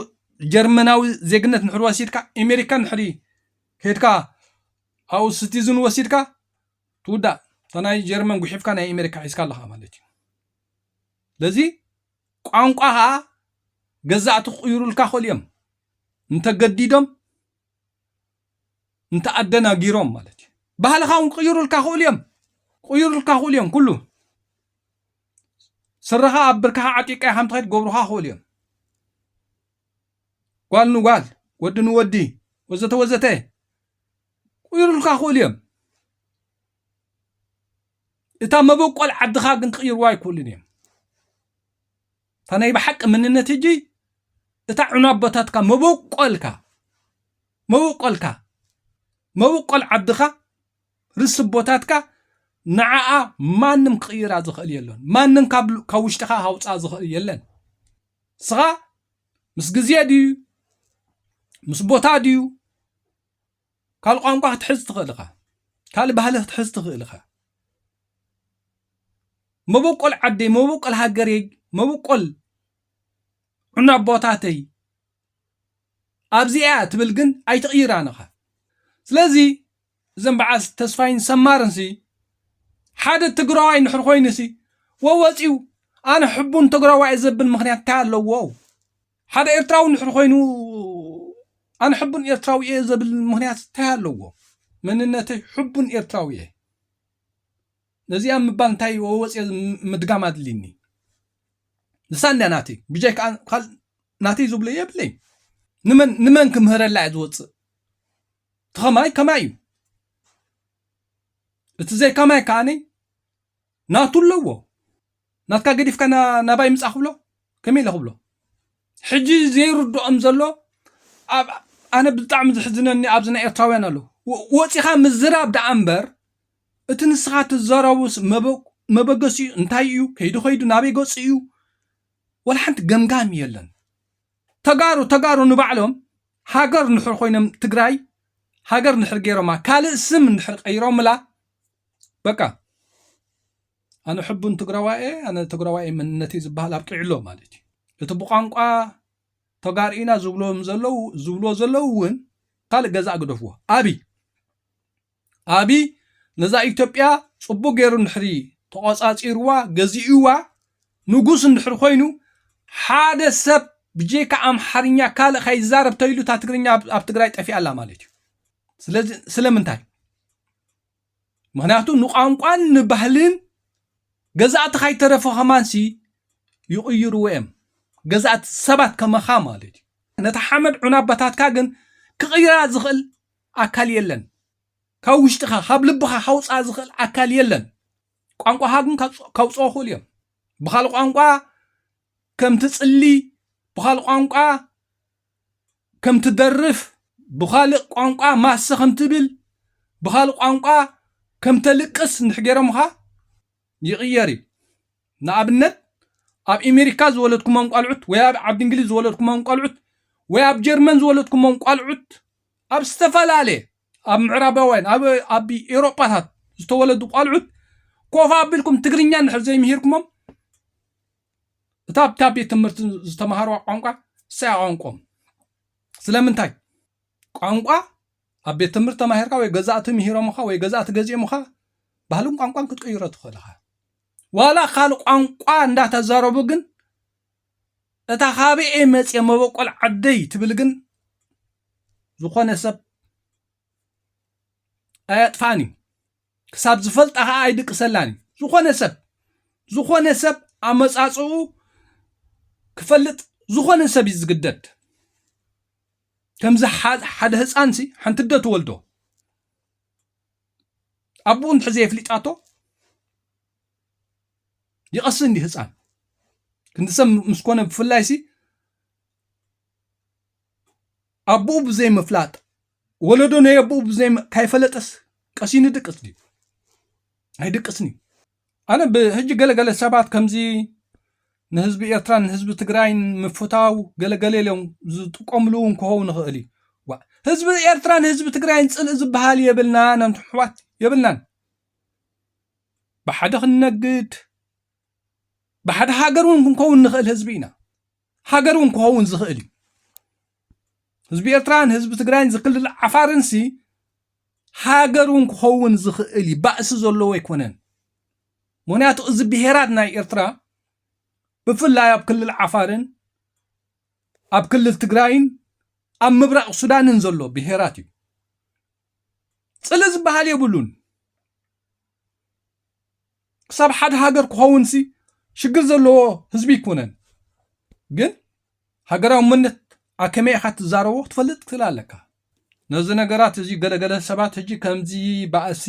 ጀርመናዊ ዜግነት ንድሕሪ ወሲድካ ኣሜሪካ ንድሕሪ ከድካ ኣብኡ ስቲዝን ወሲድካ ትውዳእ እታ ናይ ጀርመን ጉሒፍካ ናይ ኣሜሪካ ሒዝካ ኣለኻ ማለት እዩ ለዚ ቋንቋ ከዓ ገዛእቲ ክቕይሩልካ ክእሉ እዮም እንተገዲዶም እንተኣደናጊሮም ማለት እዩ ባህልኻ እውን ክቕይሩልካ ክእሉ እዮም ክቕይሩልካ ክእሉ እዮም ኩሉ ስረኻ ኣብ ብርካኻ ዓጢቃ ከም ትኸድ ገብሩኻ ክእሉ እዮም ጓል ንጓል ወዲ ንወዲ ወዘተ ወዘተ ክቕይሩልካ ይኽእሉ እዮም። እታ መበቆል ዓድኻ ግን ክቕይርዋ ኣይክእሉን እዮም። እታ ናይ ብሓቂ መንነት እጂ እታ ዑና ኣቦታትካ መበቆልካ መበቆልካ መበቆል ዓድኻ ርስ ቦታትካ ንዓኣ ማንም ክቕይራ ዝኽእል የሎን። ማንም ካብ ውሽጥኻ ሃውፃ ዝኽእል የለን። ስኻ ምስ ግዜ ድዩ ምስ ቦታ ድዩ ካልእ ቋንቋ ክትሕዝ ትኽእል ኢኻ ካልእ ባህሊ ክትሕዝ ትኽእል ኢኻ መበቆል ዓደይ መበቆል ሃገረይ መበቆል ዑና ኣቦታተይ ኣብዚኣ ትብል ግን ኣይትቕይራን ኢኻ ስለዚ እዘን በዓል ተስፋይን ሰማርን ሲ ሓደ ትግራዋይ ንሕር ኮይኑ ሲ ወወፂኡ ኣነ ሕቡን ትግራዋይ ዘብል ምክንያት እንታይ ኣለዎ ሓደ ኤርትራዊ ንድሕሪ ኮይኑ ኣነ ሕቡን ኤርትራዊ እየ ዘብል ምክንያት እንታይ ኣለዎ? መንነተይ ሕቡን ኤርትራዊ እየ ነዚኣ ምባል እንታይ ወፅየ ምድጋም ኣድልኒ ንሳ እንድያ ናተይ ብጀይ ከዓ ካልእ ናተይ ዝብሎ የብለይ ንመን ንመን ክምህረላ እየ ዝወፅእ ተኸማይ ከማይ እዩ እቲ ዘይከማይ ከዓነይ ናቱ ኣለዎ ናትካ ገዲፍካ ናባይ ምጻእ ክብሎ ከመይ ኢለ ክብሎ ሕጂ ዘይርድኦም ዘሎ ኣብ ኣነ ብጣዕሚ ዝሕዝነኒ ኣብዚ ናይ ኤርትራውያን ኣሎ ወጺኻ ምዝራብ ደኣ እምበር እቲ ንስኻ ትዘረቡስ መበገሲ እዩ እንታይ እዩ ከይዱ ከይዱ ናበይ ገጹ እዩ ወላ ሓንቲ ገምጋም የለን ተጋሩ ተጋሩ ንባዕሎም ሃገር ንድሕር ኮይኖም ትግራይ ሃገር ንድሕር ገይሮማ ካልእ ስም እንድሕር ቀይሮምላ በቃ ኣነ ሕቡን ትግራዋይ እየ ኣነ ትግራዋይ መንነት እዩ ዝበሃል ኣብቂዕሎ ማለት እዩ እቲ ብቋንቋ ተጋርኢና ዝብሎም ዘለው ዝብሎ ዘለው እውን ካልእ ገዛ ግደፍዎ ኣብይ ኣብይ ነዛ ኢትዮጵያ ፅቡቅ ገይሩ ንድሕሪ ተቆፃፂርዋ ገዚእዋ ንጉስ እንድሕሪ ኮይኑ ሓደ ሰብ ብጀካ ኣምሓርኛ ካልእ ከይዛረብ ተይሉ እታ ትግርኛ ኣብ ትግራይ ጠፊኣ ኣላ ማለት እዩ ስለዚ ስለምንታይ ምክንያቱ ንቋንቋን ንባህልን ገዛእቲ ካይተረፈ ከማንሲ ይቕይርዎ እዮም ገዛእቲ ሰባት ከመኻ ማለት እዩ ነታ ሓመድ ዑናባታትካ ግን ክቕይራ ዝኽእል ኣካል የለን ካብ ውሽጥኻ ካብ ልብኻ ካውፅኣ ዝኽእል ኣካል የለን ቋንቋኻ ግን ካውፅኦ ክእል እዮም ብካልእ ቋንቋ ከምቲ ፅሊ ብካልእ ቋንቋ ከም ትደርፍ፣ ብኻልእ ቋንቋ ማሰ ከም ትብል፣ ብኻልእ ቋንቋ ከም ተልቅስ እንድሕር ገይሮምኻ ይቕየር እዩ። ንኣብነት ኣብ ኢሜሪካ ዝወለድኩሞም ቋልዑት ወይ ኣብ ዓዲ እንግሊዝ ዝወለድኩሞም ቋልዑት ወይ ኣብ ጀርመን ዝወለድኩሞም ቋልዑት ኣብ ዝተፈላለየ ኣብ ምዕራባውያን ኣብ ኣብ ኤውሮጳታት ዝተወለዱ ቋልዑት ኮፍ ኣቢልኩም ትግርኛ እንድሕር ዘይምሂርኩሞም እታ ኣብታ ቤት ትምህርቲ ዝተምሃርዋ ቋንቋ ንሳ እያ ቋንቆኦም። ስለምንታይ? ቋንቋ ኣብ ቤት ትምህርቲ ተማሂርካ ወይ ገዛእቲ ምሂሮምኻ ወይ ገዛእቲ ገዚኦምኻ ባህልን ቋንቋን ክትቅይሮ ትኽእል ኢኻ። ዋላ ካልእ ቋንቋ እንዳተዛረቡ ግን እታ ካበኤ መፅየ መበቆል ዓደይ ትብል ግን ዝኾነ ሰብ ኣየጥፋን እዩ። ክሳብ ዝፈልጣ ከኣ ኣይድቅሰላን እዩ። ዝኾነ ሰብ ዝኾነ ሰብ ኣመጻጽኡ ክፈልጥ ዝኾነ ሰብ እዩ ዝግደድ። ከምዚ ሓደ ህፃንሲ ሓንቲ ዶ ትወልዶ ኣቦኡ እንድሕር ዘየፍሊጣቶ ይቐሲ እንዲ ህፃን ክንዲ ሰብ ምስ ኮነ ብፍላይሲ ኣቡኡ ብዘይ ምፍላጥ ወለዶ ናይ ኣቡኡ ብዘይ ካይፈለጠስ ቀሲኑ ድቅስ ድዩ ኣይድቅስን እዩ ኣነ ብሕጂ ገለገለ ሰባት ከምዚ ንህዝቢ ኤርትራን ንህዝቢ ትግራይን ምፍታው ገለገለ ኢሎም ዝጥቀምሉ እውን ክኸውን ይኽእል እዩ ህዝቢ ኤርትራን ህዝቢ ትግራይን ፅልኢ ዝበሃል የብልናን ኣሕዋት የብልናን ብሓደ ክንነግድ ብሓደ ሃገር እውን ክንከውን ንኽእል ህዝቢ ኢና ሃገር እውን ክኸውን ዝኽእል እዩ ህዝቢ ኤርትራን ህዝቢ ትግራይን ዝክልል ዓፋርንሲ ሃገር እውን ክኸውን ዝኽእል እዩ ባእሲ ዘለዎ ኣይኮነን ምክንያቱ እዚ ብሄራት ናይ ኤርትራ ብፍላይ ኣብ ክልል ዓፋርን ኣብ ክልል ትግራይን ኣብ ምብራቕ ሱዳንን ዘሎ ብሄራት እዩ ፅሊ ዝበሃል የብሉን ክሳብ ሓደ ሃገር ክኸውን ሲ ሽግር ዘለዎ ህዝቢ ይኮነን ግን ሃገራዊ መነት ኣከመይ ኢኻ ትዛረቦ ክትፈልጥ ትክል ኣለካ ነዚ ነገራት እዚ ገለገለ ሰባት ሕጂ ከምዚ ባእሲ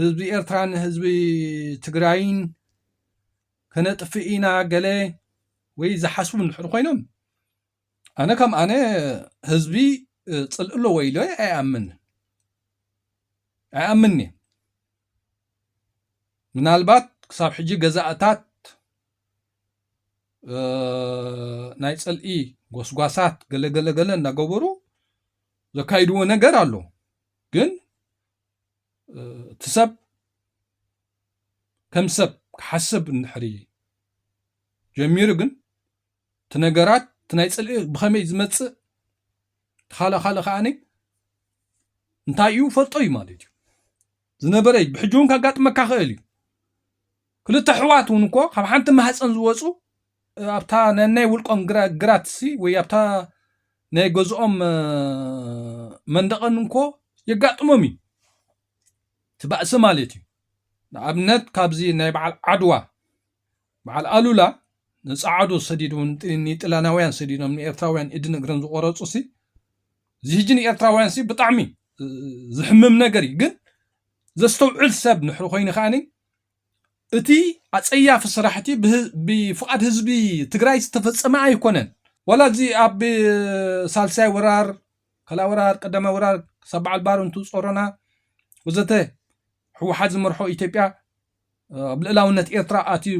ህዝቢ ኤርትራን ህዝቢ ትግራይን ከነጥፍእ ኢና ገለ ወይ ዝሓስቡ እንድሕር ኮይኖም ኣነ ከም ኣነ ህዝቢ ፅልእ ኣለዎ ኢለ ኣይኣምን ኣይኣምን እየ ምናልባት ክሳብ ሕጂ ገዛእታት ናይ ፅልኢ ጎስጓሳት ገለገለገለ እናገበሩ ዘካይድዎ ነገር ኣሎ ግን እቲ ሰብ ከም ሰብ ክሓስብ እንድሕሪ ጀሚሩ ግን እቲ ነገራት እቲ ናይ ፅልኢ ብኸመይ ዝመፅእ እቲ ካልእ ካልእ ከዓኒ እንታይ እዩ ፈልጦ እዩ ማለት እዩ ዝነበረ እዩ ብሕጂ እውን ካጋጥመካ ክእል እዩ ክልተ ኣሕዋት እውን እኮ ካብ ሓንቲ ማህፀን ዝወፁ ኣብታ ነናይ ውልቆም ግራት ሲ ወይ ኣብታ ናይ ገዝኦም መንደቐን እንኮ የጋጥሞም እዩ እቲ ባእሲ ማለት እዩ ንኣብነት ካብዚ ናይ በዓል ዓድዋ በዓል ኣሉላ ንጸዓዱ ሰዲዱ ውን ኒጥልያናውያን ሰዲዶም ንኤርትራውያን ኢድን እግርን ዝቆረጹ ሲ እዚ ህጂ ንኤርትራውያን ሲ ብጣዕሚ ዝሕምም ነገር እዩ ግን ዘስተውዕል ሰብ ንሕሪ ኮይኑ ከኣኒ እቲ ኣጸያፊ ስራሕቲ ብፍቓድ ህዝቢ ትግራይ ዝተፈጸመ ኣይኮነን ዋላ እዚ ኣብ ሳልሳይ ወራር ካልኣ ወራር ቀዳማይ ወራር ክሳብ በዓል ባርንቱ ጾሮና ወዘተ ሕወሓት ዝመርሖ ኢትዮጵያ ኣብ ልእላውነት ኤርትራ ኣትዩ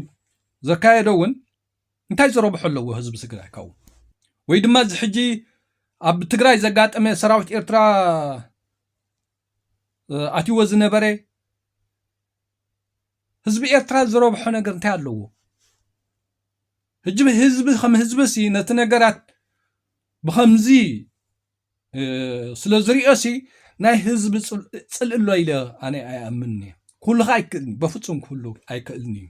ዘካየዶ እውን እንታይ ዝረብሖ ኣለዎ ህዝቢ ትግራይ ካብኡ ወይ ድማ እዚ ሕጂ ኣብ ትግራይ ዘጋጠመ ሰራዊት ኤርትራ ኣትይዎ ዝነበረ ህዝቢ ኤርትራ ዝረብሖ ነገር እንታይ ኣለዎ ህጅቢ ህዝቢ ከም ህዝቢ ሲ ነቲ ነገራት ብከምዚ ስለ ዝሪኦሲ ናይ ህዝቢ ፅልእሎ ኢለ ኣነ ኣይኣምን እየ ኩሉካ ኣይክእልን በፍፁም ክህሉ ኣይክእልን እዩ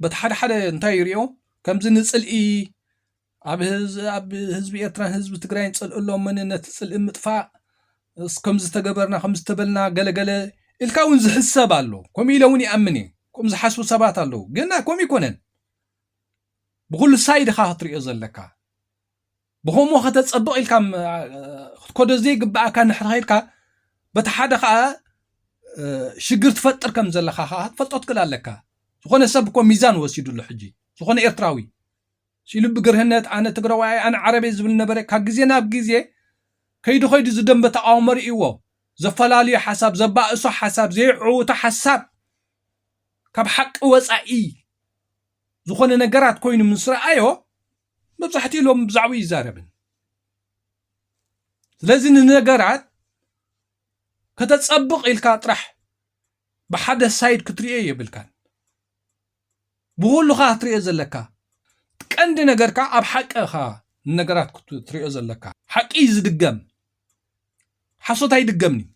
በቲ ሓደ ሓደ እንታይ ይሪኦ ከምዚ ንፅልኢ ኣብ ህዝቢ ኤርትራን ህዝቢ ትግራይን ፅልእሎ መን ነቲ ፅልኢ ምጥፋእ ከምዝተገበርና ከምዝተበልና ገለገለ ኢልካ እውን ዝሕሰብ ኣሎ ከምኡ ኢለ እውን ይኣምን እየ ከምኡ ዝሓስቡ ሰባት ኣለዉ ግና ከምኡ ይኮነን ብኩሉ ሳይድካ ክትሪኦ ዘለካ ብኸምኡ ከተጸብቕ ኢልካ ክትከዶ ዘይግብኣካ ንድሕሪ ኸይድካ በቲ ሓደ ከዓ ሽግር ትፈጥር ከም ዘለካ ከዓ ክትፈልጦ ትክእል ኣለካ ዝኾነ ሰብ እኮ ሚዛን ወሲዱ ኣሎ ሕጂ ዝኾነ ኤርትራዊ ሲሉ ብግርህነት ኣነ ትግራዋይ ኣነ ዓረቤ ዝብል ነበረ ካብ ግዜ ናብ ግዜ ከይዱ ከይዱ ዝደንበ ተቃውሞ ርእይዎ ዘፈላለዩ ሓሳብ ዘባእሶ ሓሳብ ዘይዕውቶ ሓሳብ ካብ ሓቂ ወፃኢ ዝኾነ ነገራት ኮይኑ ምስ ረኣዮ መብዛሕትኡ ሎም ብዛዕባኡ ይዛረብን ስለዚ ንነገራት ከተፀብቕ ኢልካ ጥራሕ ብሓደ ሳይድ ክትሪኦ የብልካን ብኩሉኻ ክትሪኦ ዘለካ ቀንዲ ነገርካ ኣብ ሓቂ ኻ ንነገራት ክትሪኦ ዘለካ ሓቂ ዝድገም ሓሶት ኣይድገምንዩ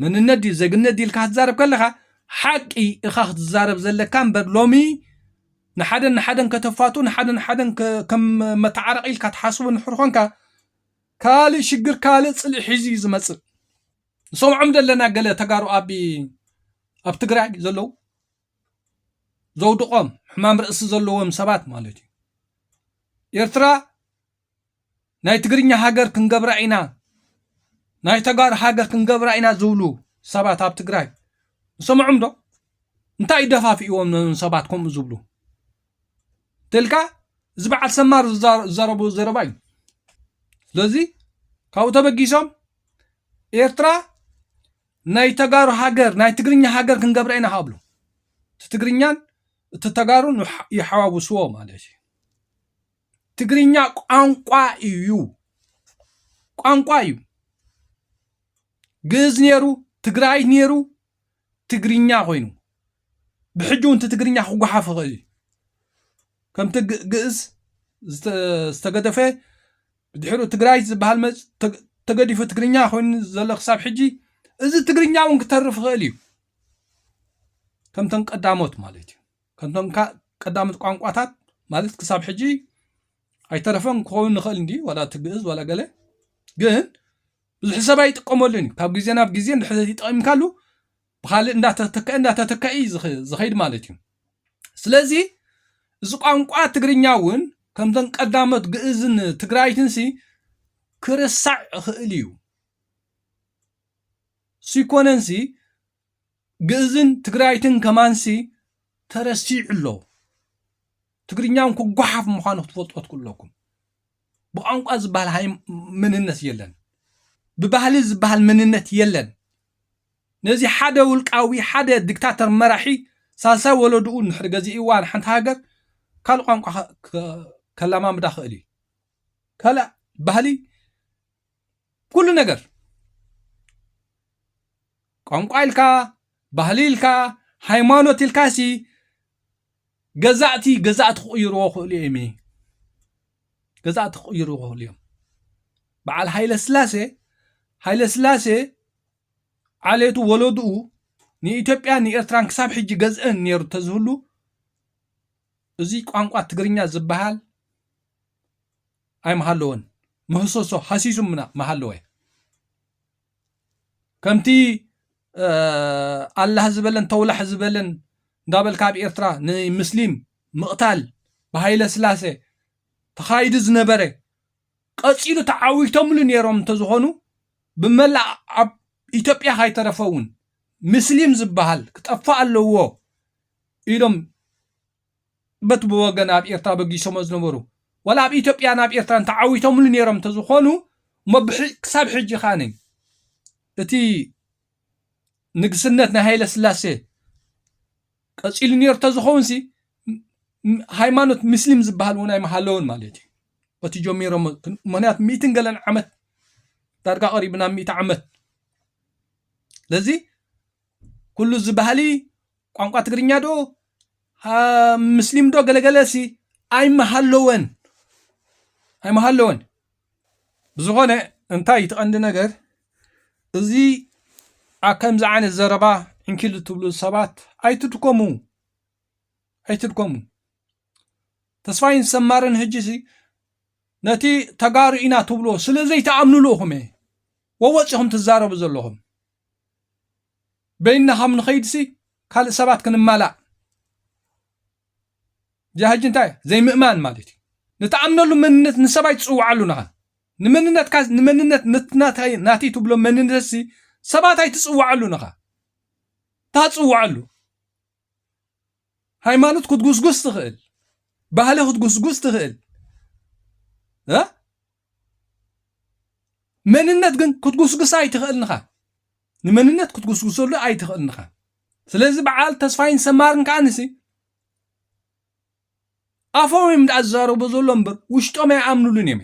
መንነት ድዩ ዘግነት ድልካ ክትዛረብ ከለኻ ሓቂ እኻ ክትዛረብ ዘለካ እምበር ሎሚ ንሓደን ንሓደን ከተፋቱ ንሓደ ንሓደን ከም መተዓረቂ ኢልካ ትሓስቡ ንሕር ኮንካ ካልእ ሽግር ካልእ ፅልኢ ሒዙ እዩ ዝመፅእ ንሰምዖም ዘለና ገለ ተጋሩ ኣብ ኣብ ትግራይ ዘለዉ ዘውድቆም ሕማም ርእሲ ዘለዎም ሰባት ማለት እዩ ኤርትራ ናይ ትግርኛ ሃገር ክንገብራ ኢና፣ ናይ ተጋሩ ሃገር ክንገብራ ኢና ዝብሉ ሰባት ኣብ ትግራይ ንሰምዖም ዶ? እንታይ እዩ ደፋፊእዎም ነዞም ሰባት ከምኡ ዝብሉ እንተልካ እዚ በዓል ሰማር ዝዛረቦ ዘረባ እዩ። ስለዚ ካብኡ ተበጊሶም ኤርትራ ናይ ተጋሩ ሃገር ናይ ትግርኛ ሃገር ክንገብራ ኢና ካብሉ እቲ ትግርኛን እቲ ተጋሩን ይሓዋውስዎ ማለት እዩ። ትግርኛ ቋንቋ እዩ ቋንቋ እዩ ግእዝ ነይሩ ትግራይ ነይሩ ትግርኛ ኮይኑ ብሕጂ እውን ትግርኛ ክጓሓፍ ይኽእል እዩ ከምቲ ግእዝ ዝተገደፈ ድሕሪ ትግራይ ዝበሃል መፅ ተገዲፉ ትግርኛ ኮይኑ ዘሎ ክሳብ ሕጂ እዚ ትግርኛ እውን ክተርፍ ይኽእል እዩ ከምተን ቀዳሞት ማለት እዩ ከምቶም ቀዳሞት ቋንቋታት ማለት ክሳብ ሕጂ ኣይተረፈን ክኸውን ንኽእል እንዲ ዋላ እቲ ግእዝ ዋላ ገለ ግን ብዙሕ ሰብ ኣይጥቀመሉን እዩ ካብ ግዜ ናብ ግዜ ንድሕሪ ተጠቂምካሉ ብካልእ እንዳተተክአ እንዳተተክአ እዩ ዝኸይድ ማለት እዩ ስለዚ እዚ ቋንቋ ትግርኛ እውን ከምተን ቀዳሞት ግእዝን ትግራይትን ሲ ክርሳዕ ይኽእል እዩ ሲኮነን ሲ ግእዝን ትግራይትን ከማንሲ ተረሲዑ ኣሎ። ትግርኛውን ክጓሓፍ ምዃኑ ክትፈልጦ ትክእሉ ኣለኩም። ብቋንቋ ዝበሃል ሃይ መንነት የለን። ብባህሊ ዝበሃል መንነት የለን። ነዚ ሓደ ውልቃዊ ሓደ ዲክታተር መራሒ ሳልሳይ ወለድኡ ንድሕሪ ገዚእዋ ንሓንቲ ሃገር ካልእ ቋንቋ ከላማምዳ ክእል እዩ ካልእ ባህሊ ኩሉ ነገር ቋንቋ ኢልካ ባህሊ ኢልካ ሃይማኖት ኢልካ ሲ ገዛእቲ ገዛእቲ ክቕይርዎ ክእሉ እዮም ገዛእቲ ክቕይርዎ ክእሉ እዮም በዓል ሃይለ ስላሴ ሃይለ ስላሴ ዓሌቱ ወለድኡ ንኢትዮጵያ ንኤርትራን ክሳብ ሕጂ ገዝእን ነይሩ ተዝህሉ እዚ ቋንቋ ትግርኛ ዝበሃል ኣይምሃለወን ምህሰሶ ሃሲሱ ምሃለወ ከምቲ ኣላህ ዝበለን ተውላሕ ዝበለን እንዳበልካ ኣብ ኤርትራ ንምስሊም ምቕታል ብሃይለ ስላሴ ተኻይዱ ዝነበረ ቀፂሉ ተዓዊቶምሉ ነይሮም እንተዝኾኑ ብመላእ ኣብ ኢትዮጵያ ካይተረፈ እውን ምስሊም ዝበሃል ክጠፋእ ኣለዎ ኢሎም በቲ ብወገን ኣብ ኤርትራ በጊሶሞ ዝነበሩ ዋላ ኣብ ኢትዮጵያን ኣብ ኤርትራን ተዓዊቶምሉ ነይሮም እንተዝኾኑ እሞ ክሳብ ሕጂ ከኣ እቲ ንግስነት ናይ ሃይለ ስላሴ ቀጺሉ ነይሩ ተዝኸውንሲ ሃይማኖት ምስሊም ዝበሃል እውን ኣይመሃለውን ማለት እዩ እቲ ጀሚሮም ምክንያቱ ሚእትን ገለን ዓመት ዳርጋ ቀሪቡ ናብ ሚእቲ ዓመት ስለዚ ኩሉ እዚ ባህሊ ቋንቋ ትግርኛ ዶ ምስሊም ዶ ገለገለ ሲ ኣይመሃለወን ኣይመሃለወን ብዝኾነ እንታይ እዩ ትቐንዲ ነገር እዚ ከምዚ ዓይነት ዘረባ ዕንኪሉ ትብሉ ሰባት ኣይትድከሙ ኣይትድከሙ ተስፋይን ሰማርን ሕጂ ሲ ነቲ ተጋሩ ኢና ትብልዎ ስለ ዘይተኣምንሉ ኢኹም እየ ወወፂኹም ትዛረቡ ዘለኹም በይንና ካብ ንኸይድሲ ካልእ ሰባት ክንማላእ ጃህጅ እንታይ ዘይምእማን ማለት እዩ ንትኣምነሉ መንነት ንሰብ ኣይትፅውዓሉን ኢኻ ንመንነትካ ንመንነት ነትናታይ ናተይ ትብሎ መንነትሲ ሰባት ኣይትፅውዓሉን ኢኻ ታፅውዓሉ ሃይማኖት ክትጉስጉስ ትኽእል ባህሊ ክትጉስጉስ ትኽእል መንነት ግን ክትጉስጉሳ ኣይትኽእልን ኢኻ ንመንነት ክትጉስጉሰሉ ኣይትኽእልን ኢኻ ስለዚ በዓል ተስፋይን ሰማርን ከዓ ንሲ ኣፎም እዮም ደኣ ዝዛረቡ ዘሎ እምበር ውሽጦም ኣይኣምኑሉን እዮም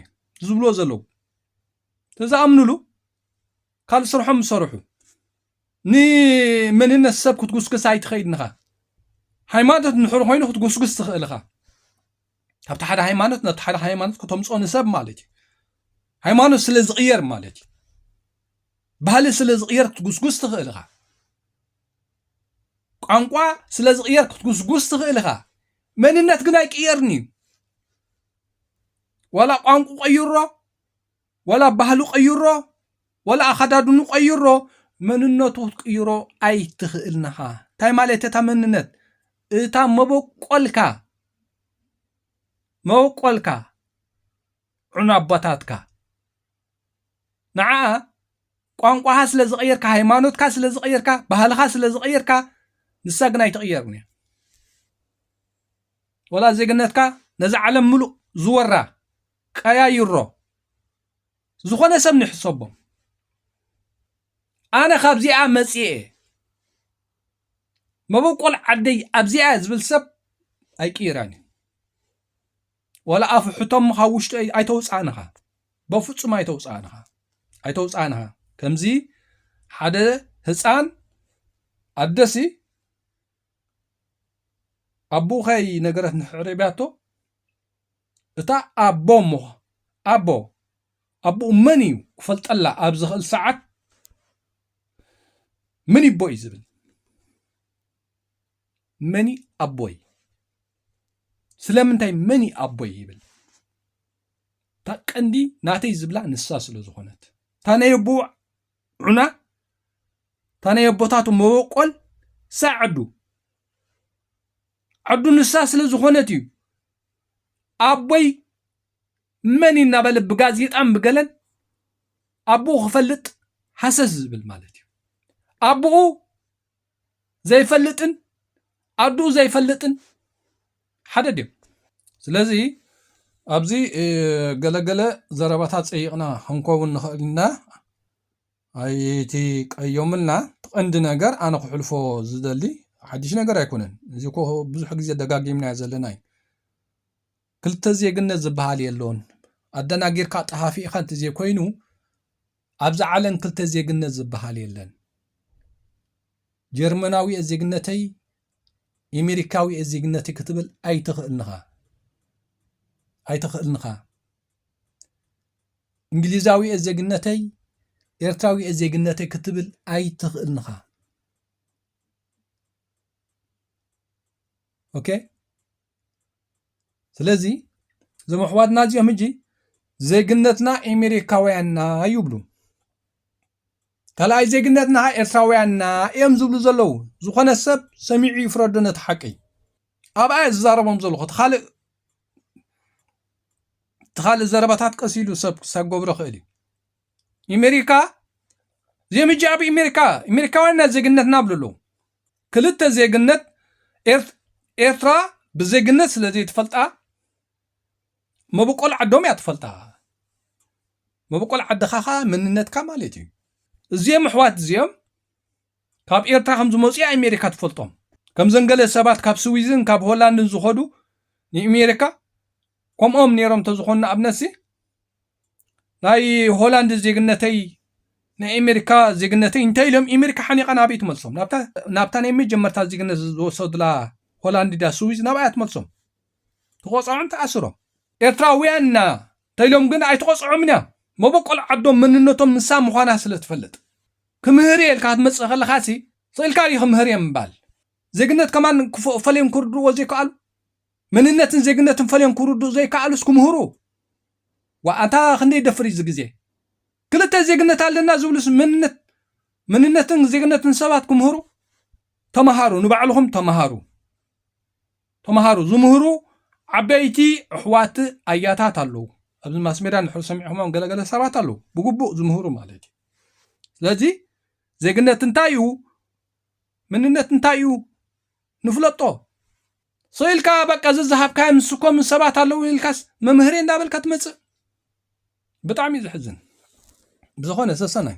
ዝብሎ ዘለዉ ተዝኣምኑሉ ካልእ ስርሖም ዝሰርሑ ንመንነት ሰብ ክትጉስግስ ኣይትኸይድን ኢኻ ሃይማኖት ንድሕሪ ኮይኑ ክትጉስግስ ትኽእል ኢኻ ካብቲ ሓደ ሃይማኖት ነቲ ሓደ ሃይማኖት ክተምፆ ንሰብ ማለት እዩ ሃይማኖት ስለ ዝቕየር ማለት እዩ ባህሊ ስለ ዝቕየር ክትጉስጉስ ትኽእል ኢኻ ቋንቋ ስለ ዝቕየር ክትጉስጉስ ትኽእል ኢኻ መንነት ግን ኣይቅየርን እዩ ዋላ ቋንቁ ቀይሮ ወላ ባህሉ ቀይሮ ወላ ኣኸዳድኑ ቀይሮ መንነቱ ክትቅይሮ ኣይትኽእልን ኢኻ እንታይ ማለት እታ መንነት እታ መበቆልካ መበቆልካ ዕኑ ኣቦታትካ ንዓኣ ቋንቋኻ ስለ ዝቐየርካ ሃይማኖትካ ስለ ዝቐየርካ ባህልኻ ስለ ዝቐየርካ ንሳ ግን ኣይትቕየርን እያ ወላ ዜግነትካ ነዛ ዓለም ምሉእ ዝወራ ቀያይሮ ዝኾነ ሰብ ንሕሰቦ ኣነ ካብዚኣ መጽኤ መበቆል ዓደይ ኣብዚኣ ዝብል ሰብ ኣይቅይራን እዩ ወላ ኣፉ ሕቶም ካብ ውሽጢ ኣይተውፅኣንኻ በፍፁም ኣይተውፅኣንኻ ኣይተውፅኣንኻ ከምዚ ሓደ ህፃን ኣደሲ ኣቦኸይ ነገረት ንሕዕሬብያቶ እታ ኣቦ እሞ ኣቦ ኣቡኡ መን እዩ ክፈልጠላ ኣብ ዝኽእል ሰዓት መን ይቦ እዩ ዝብል መኒ ኣቦይ ስለምንታይ መኒ ኣቦይ ይብል እታ ቀንዲ ናተይ ዝብላ ንሳ ስለ ዝኾነት እታ ናይ ኣቦ ዑና እታ ናይ ኣቦታቱ መበቆል ሳዕ ዓዱ ዓዱ ንሳ ስለ ዝኾነት እዩ ኣቦይ መን እዩ እናበለ ብጋዜጣን ብገለን ኣቦኡ ክፈልጥ ሃሰስ ዝብል ማለት እዩ ኣቦኡ ዘይፈልጥን ኣድኡ ዘይፈልጥን ሓደ ድዮም ስለዚ ኣብዚ ገለገለ ዘረባታት ፀይቕና ክንከውን ንኽእል ኢና ኣይት ቀዮምልና ትቐንዲ ነገር ኣነ ክሕልፎ ዝደሊ ሓድሽ ነገር ኣይኮነን እዚ ኮ ብዙሕ ግዜ ደጋጊምናዮ ዘለና እዩ ክልተ ዜግነት ዝበሃል የሎን ኣደናጊርካ ጠፋፊእኻ እንተዘይኮይኑ ኣብዚ ዓለም ክልተ ዜግነት ዝበሃል የለን ጀርመናዊ እየ ዜግነተይ ኤሜሪካዊ እየ ዜግነተይ ክትብል ኣይትኽእልንኻ ኣይትኽእልንኻ እንግሊዛዊ እየ ዜግነተይ ኤርትራዊ እየ ዜግነተይ ክትብል ኣይትኽእልን ኢኻ ኦኬ ስለዚ እዞም ኣሕዋትና እዚኦም ሕጂ ዜግነትና ኤሜሪካውያንና ይብሉ ካልኣይ ዜግነትና ኤርትራውያንና እዮም ዝብሉ ዘለዉ ዝኾነ ሰብ ሰሚዑ ይፍረዶ ነቲ ሓቂ ኣብኣ ዝዛረቦም ዘለኹ እቲ ካልእ እቲ ካልእ ዘረባታት ቀስ ኢሉ ሰብ ክሳብ ክገብሮ ይኽእል እዩ። ኣሜሪካ እዚኦም ሕጂ ኣብ ኣሜሪካ ኣሜሪካውያን ናይ ዜግነት ናብሉ ኣለዉ ክልተ ዜግነት ኤርትራ ብዜግነት ስለ ዘይትፈልጣ መበቆል ዓዶም እያ ትፈልጣ መበቆል ዓድኻ ኸዓ መንነትካ ማለት እዩ እዚኦም ኣሕዋት እዚኦም ካብ ኤርትራ ከም ዝመጹ እያ ኤሜሪካ ትፈልጦም ከምዘን ገለ ሰባት ካብ ስዊዝን ካብ ሆላንድን ዝኸዱ ንኤሜሪካ ከምኦም ነይሮም ተዝኾኑ ንኣብነትሲ ናይ ሆላንድ ዜግነተይ ናይ ኤሜሪካ ዜግነተይ እንታይ ኢሎም ኤሜሪካ ሓኒቓ ናበይ ትመልሶም ናብታ ናይ መጀመርታ ዜግነት ዝወሰዱላ ሆላንድ ድያ ስዊዝ ናብኣያ ትመልሶም ትቆፅዖም ትኣስሮም ኤርትራውያን ኢና ተኢሎም ግን ኣይትቆፅዖምን እያ መበቆል ዓዶም መንነቶም ንሳ ምዃና ስለ ትፈልጥ ክምህር እየ ኢልካ ክትመጽእ ከለኻሲ ኽእልካ ድዩ ክምህር እየ ምባል? ዜግነት ከማን ፈልዮም ክርድእዎ ዘይከኣሉ? መንነትን ዜግነትን ፈልዮም ክርድኡ ዘይከኣሉስ ክምህሩ? ዋእ ኣንታ ክንደይ ይደፍር እዩ እዚ ግዜ? ክልተ ዜግነት ኣለና ዝብሉስ መንነት መንነትን ዜግነትን ሰባት ክምህሩ? ተማሃሩ ንባዕልኹም ተማሃሩ ተማሃሩ ዝምህሩ ዓበይቲ ኣሕዋት ኣያታት ኣለዉ ኣብዚ ማስሜድያ እንድሕር ሰሚዕኹሞም ገለገለ ሰባት ኣለዉ ብግቡእ ዝምህሩ ማለት እዩ። ስለዚ ዜግነት እንታይ እዩ ምንነት እንታይ እዩ ንፍለጦ ሰኢልካ በቃ ዝዝሃብካዮ ምስ ኮም ሰባት ኣለዉ ኢልካስ መምህር እንዳበልካ ትመፅእ ብጣዕሚ እዩ ዝሕዝን ብዝኾነ ሰሰናዩ